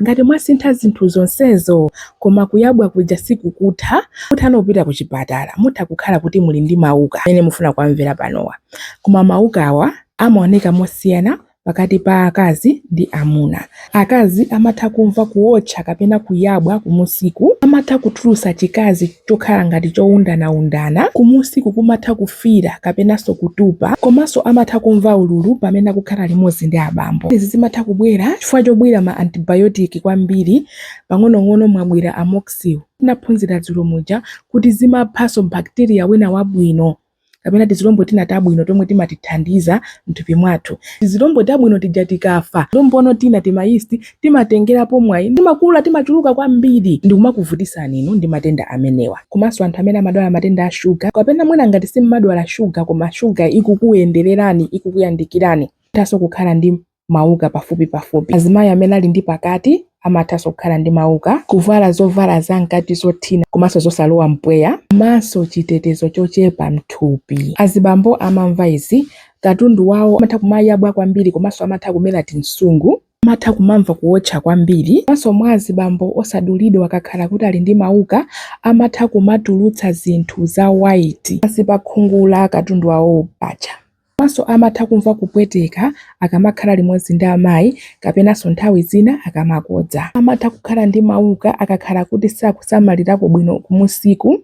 Ngati mwasintha zinthu zonsezo koma kuyabwa kuja sikukutha, mutha kupita kuchipatala. Mutha kukhala kuti muli ndi mauka amene mufuna kuwamvera panowa. Koma maukawa amaoneka mosiyana pakati pa akazi ndi amuna. Akazi amatha kumva kuotcha kapena kuyabwa kumunsiku. Amatha kutulutsa chikazi. chokhala ngati chowundanaundana, kumunsiku kumatha kufiira kapenanso kutupa komanso amatha kumva ululu pamene akukhala limodzi ndi abambo. Izi zimatha kubwera chifukwa chobwira ma antibiotic kwambiri pang'onong'ono mwabwira Amoxil. Tinaphunzira dzulo muja kuti zimaphanso bacteria wina wabwino. kapena tizilombo tina tabwino tomwe timatithandiza m'thupi mwathu. Tizilombo tabwino tija tikafa, tizilombo tina, tima yeast, timatengerapo mwayi timakula, timachuluka kwambiri ndikumakuvutitsani inu ndi matenda amenewa. Komanso anthu amene amadwala matenda a shuga, kapena mwina ngati simumadwala shuga koma shuga ikukuyendererani, ikukuyandikirani, muthanso kukhala ndi. mauka pafupipafupi. Azimayi amene ali ndi pakati amathanso kukhala ndi mauka. Kuvala zovala zamkati zothina komanso zosalowa mpweya komanso chitetezo chochepa m'thupi. Azibambo amamva izi, Katundu wawo amatha kumayabwa kwambiri komanso amatha kumera tinsungu. Amatha kumamva kuwotcha kwambiri. Komanso mwa azibambo osadulidwa akakhala kuti ali ndi mauka amatha kumatulutsa zinthu za waiti pansi pa khungu la katundu wawowo. Paja Komanso amatha kumva kupweteka akamakhala limodzi ndi amayi kapenanso nthawi zina akamakodza. Amatha kukhala ndi mawuka akakhala kuti sakusamalirako bwino kumunsiku,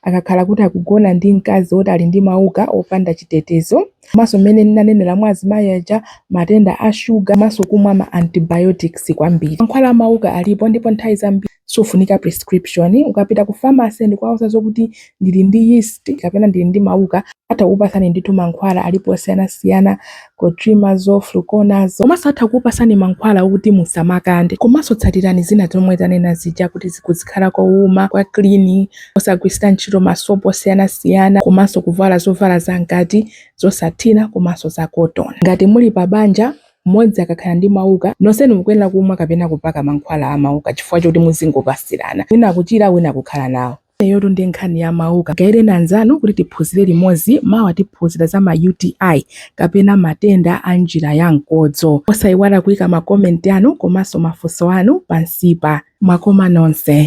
akakhala kuti akugona ndi mkazi woti ali ndi mawuka opanda chitetezo, komanso mmene ndinanenera mwa azimayi aja, matenda a shuga komanso kumwa ma antibiotics kwambiri. Mankhwala a mawuka alipo ndipo nthawi zambiri. sufunika prescription ukapita ku pharmacy ndikuwauza zokuti ndili ndi yeast kapena ndili ndi mauka atha kukupasani ndithu mankhwala alipo osiyanasiyana clotrimazole fluconazole komanso atha kukupasani mankhwala okuti musamakande komanso tsatirani zina zomwe tanena zija kuti kuzikhala kowuma kwa clean osagwiritsa ntchito masopo osiyanasiyana komanso kuvala zovala zamkati zosathina komanso za cotton ngati muli pa banja Mmodzi akakhala ndi mauka, nonsenu mukuyenera kumwa kapena kupaka mankhwala a mauka chifukwa choti muzingopatsirana, wina kuchira wina kukhala nawo. Imeneyotu ndi nkhani ya mauka. Mgayireni anzanu kuti tiphunzire limodzi. Mawa tiphunzira za ma UTI kapena matenda a njira ya mkodzo. Osaiwala kuika ma comment anu komanso mafunso anu pansipa. Mwakoma nonse.